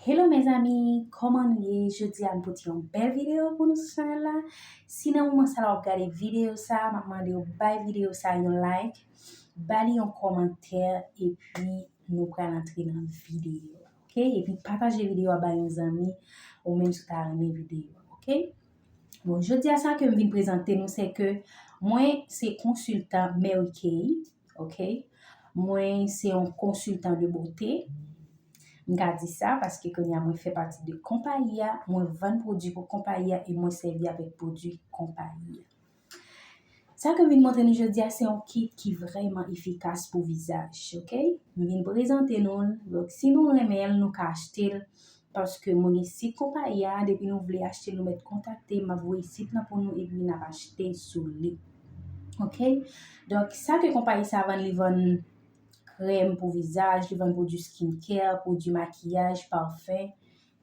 Hello mes amis, koman nou ye? Jodi a m pote yon bèl video pou nou sou chanel la. Si nan moman sa la wap gade video sa, m ap mande ou bay video sa yon like, ba li yon kòmantè, epi nou pral antre nan video a. Ok, epi pataje video a bay yon zanmi ou menm si w ta renmen video a. Ok, bon jodi a sa ke m vin prezante nou se ke mwen se konsiltan Mary Kay. ok mwen se yon konsiltan de bote m ka di sa paske konya mwen fè pati de konpayi a mwen vann pwodwi pou konpayi a e mwen sèvi avèk pwodwi konpayi a sa ke m vin montre nou jodi a se yon kit ki vrèman efikas pou vizaj ok m vin prezante nou l donk si nou renmen l nou ka achte l Paske moun isit konpayi a depi nou vle achte nou mèt kontakte map voye sit lan pou nou epi nap achte sou li ok donk sa ke konpayi sa vann li vann krèm pou vizaj li vann pwodwi skin care pwodwi makiyaj parfum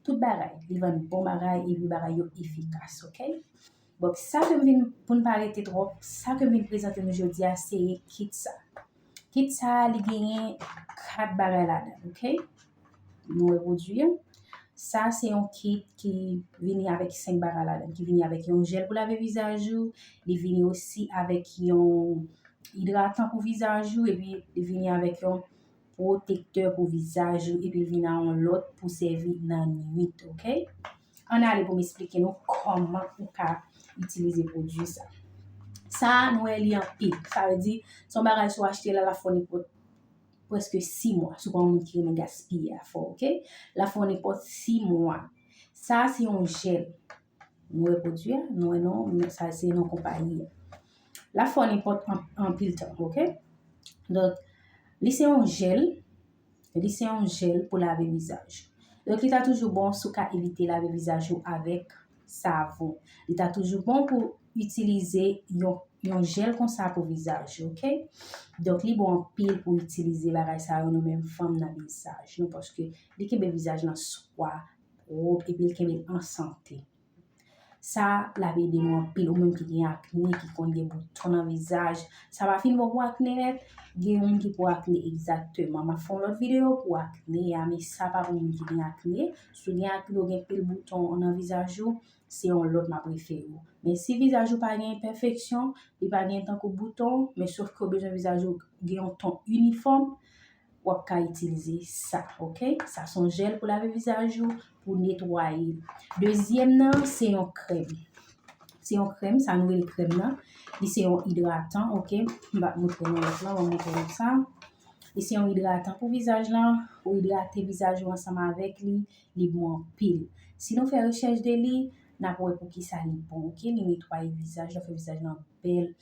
tout bagay li vann bon bagay epi bagay yo efikas ok. Bon, sa ke m vin, pou n pa rete twòp, sa ke m vin prezante nou jodi a, se kit sa. Kit sa a, li genyen 4 bagay ladan l, ok. Nou repwodui an. Sa a se yon kit ki vini avèk 5 bagay ladan l. Ki vini avèk yon jèl pou lave vizaj ou, li vini osi avèk yon idratan pou vizaj ou, epi li vini avèk yon pwotektè pou vizaj ou, epi li vini ak yon lòt pou sèvi nan nwit, ok. Ann ale pou m esplike nou kòman ou ka itilize pwodui sa. Sa a nou wè li anpil. Sa vle di, se yon bagay si w achte l a lafònipòt prèske 6 mwa. Si w pa yon moun ki renmen gaspiye afè w, oke. Lafònipòt 6 mwa. Sa a se yon jèl. Nou wè pwodui a? Nou wè non men sa se non konpayi a. Lafònipòt anpil tan, oke. Donk, li se yon jèl. Li se yon jèl pou lave vizaj. Donk li ta toujou bon si w ka evite lave vizaj ou avèk savon. Li ta toujou bon pou itilize yon jèl konsa pou vizaj ou. Donk li bon anpil pou itilize bagay sa yo nou menm fanm nan vizaj nou. Paske li kenbe vizaj nan swa, wop, epi li kenbe l an sante. Sa la ap ede nou anpil ou menm ki gen akne ki konn gen bouton nan vizaj sa pa fin bon pou akne nèt gen moun ki pou akne egzakteman map fè yon lòt video pou akne a men sa pa pou moun ki gen akne si w gen akne ou gen pil bouton nan vizaj ou se yon lòt map refere w men si vizaj ou pa gen enpèfeksyon li pa gen tankou bouton men sof ke ou bezwen vizaj ou gen yon ton inifòm wap ka itilize sa ok sa son jèl pou lave vizaj ou pou netwaye dezyèm nan se yon krèm se yon krèm sa nou rele krèm nan li se yon idratan ok m pa moutre nou lòt lan m moutre nou sa li se yon idratan pou vizaj lan ou idrate vizaj ou ansanm avèk li li bon anpil si nou fè rechèch de li nap wè pou kisa li bon ok li netwaye vizaj la fè vizaj lan bèl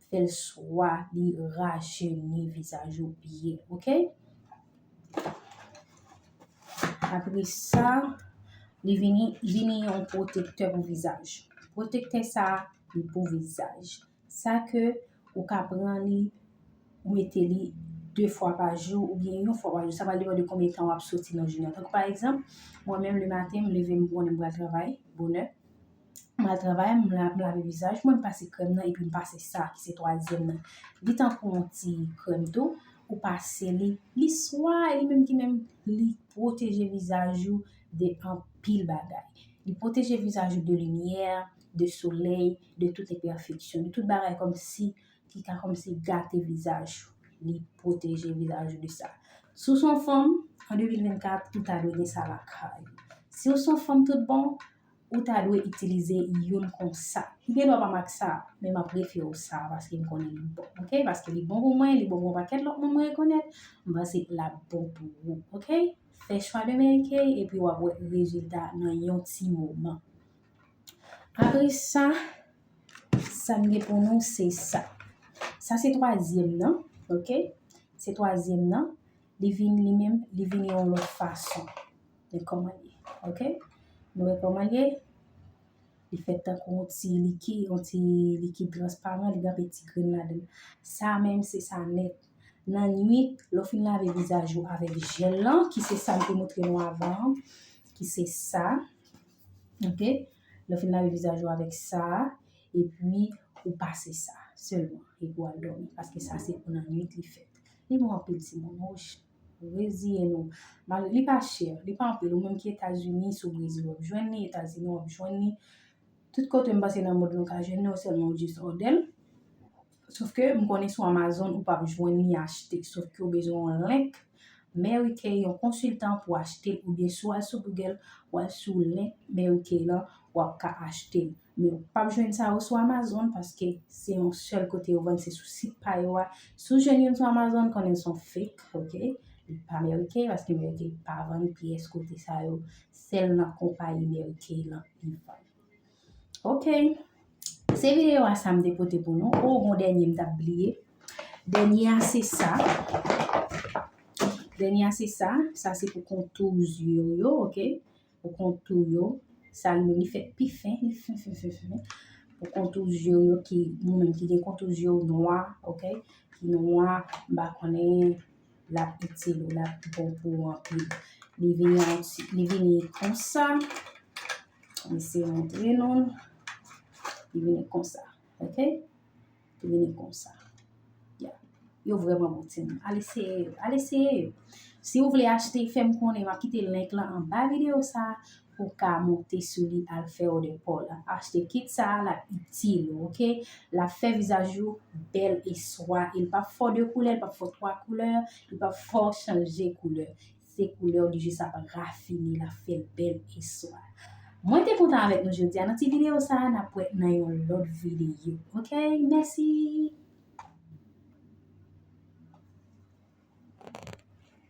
fèl swa li rajeni vizaj ou byen ok apre sa li vini vini yon pwotektè pou vizaj pwotektè sa li pou vizaj sa ke ou ka pran li ou mete li 2 fwa pa jou ou byen yon fwa pa jou sa va depan de konbyen tan wap soti nan jounen tankou pa egzanp mwen menm le maten m leve m konnen m pral travay bonè M al travay, m lave vizaj mwen, m pase krèm nan epi m pase sa ki se twazyèm nan. Li tankou yon ti krèm tou, ou pase li, li swa e li menm ki menm li pwoteje vizaj ou de anpil bagay. Li pwoteje vizaj ou de limyè, de solèy, de tout enpèfeksyon, de tout bagay kòm si ki ka kòm si gate vizaj ou. Li pwoteje vizaj ou de sa. Si w s on fanm, an 2024, ou ta dwe gen sa lakay ou. Si w s on fanm tout bon, Ou ta dwe itilize youn konsa. M gen dwa pa m ak sa, men m ap refiye w sa a paske m konnen li bon. Ok, paske li bon pou mwen, li bon pou yon pakèt lòt moun mwen rekonèt, m panse l ap bon pou ou. Ok, fè chwa de Mary Kay epi w ap wè rezilta nan yon ti moman. Apre sa, sa m gen pou nou se sa. Sa se twazyèm nan. Ok, se twazyèm nan. li vini li menm li vini yon lòt fason de kòman li ok nou wè kòman li li fè tankou yon ti liki yon ti liki transparan li gen anpe ti grenn ladan sa menm se sa nèt nan nwit lè w fin lave vizaj ou avèk jèl lan ki se sa m te montre nou avan an ki se sa ok lè w fin lave vizaj ou avèk sa epi ou pase sa sèlman epi w al dòmi paske sa se pou nan nwit li fèt Li bon anpil ti moun wouch. Reziye nou. Mal li pa chè, li pa anpil ou menm ki etazini si w brezil wap jwenn li, etazini wap jwenn li, tout kote m panse nan mond lan ou ka jwenn li ou sèlman ou jis òdè l. Sof ke m konnen sou amazon ou pap jwenn li achte sof ke ou bezwen yon link Mary Kay yon konsiltan pou achte l oubyen si w al sou google w al sou link Mary Kay lan wap ka achte l. Men ou pap jwenn sa yo sou Amazon paske se yon sèl kote yo vann se sou sit pa yo a. Si w jwenn youn sou Amazon konnen son fake ok, li pa merike paske merike pa vann pyès kote sa yo, sèl nan konpayi merike lan li vann. Ok, se videyo a sa m te pote pou nou. O gon dènye m t ap bliye. Dènye a se sa. Dènye a se sa, sa se pou kontou zye w yo ok. pou kontou yo, sa l yo li fèt pi fen, li fen fen fen fen, pou kontou zye w yo ki, nou menm ki gen kontou zye w nwa, ok, ki nwa, m pa konnen l ap itil ou, l ap bon pou ou anpil. Li vini an ti, li vini konsa, m eseye montre nou l, li vini konsa, ok. Vini konsa. Ya. Yo vreman bon ti moun. Al eseye yo. Al eseye yo. Si ou vle achte fè m konnen. M ap kite link lan anba videyo sa a pou w ka monte sou li al fè òdè pa w la. Achte kit sa a l ap itil ou ok. L ap fè vizaj ou bèl e swa. E l p ap fè w de koulè, l p ap fè w twa koulè, l p ap fè w chanje koulè. Se koulèw li jis ap rafine lap fèl bèl e swa. Mwen te kontan avèk nou jodia nan ti video sa nap wè nan yon lòt video ok mèsi.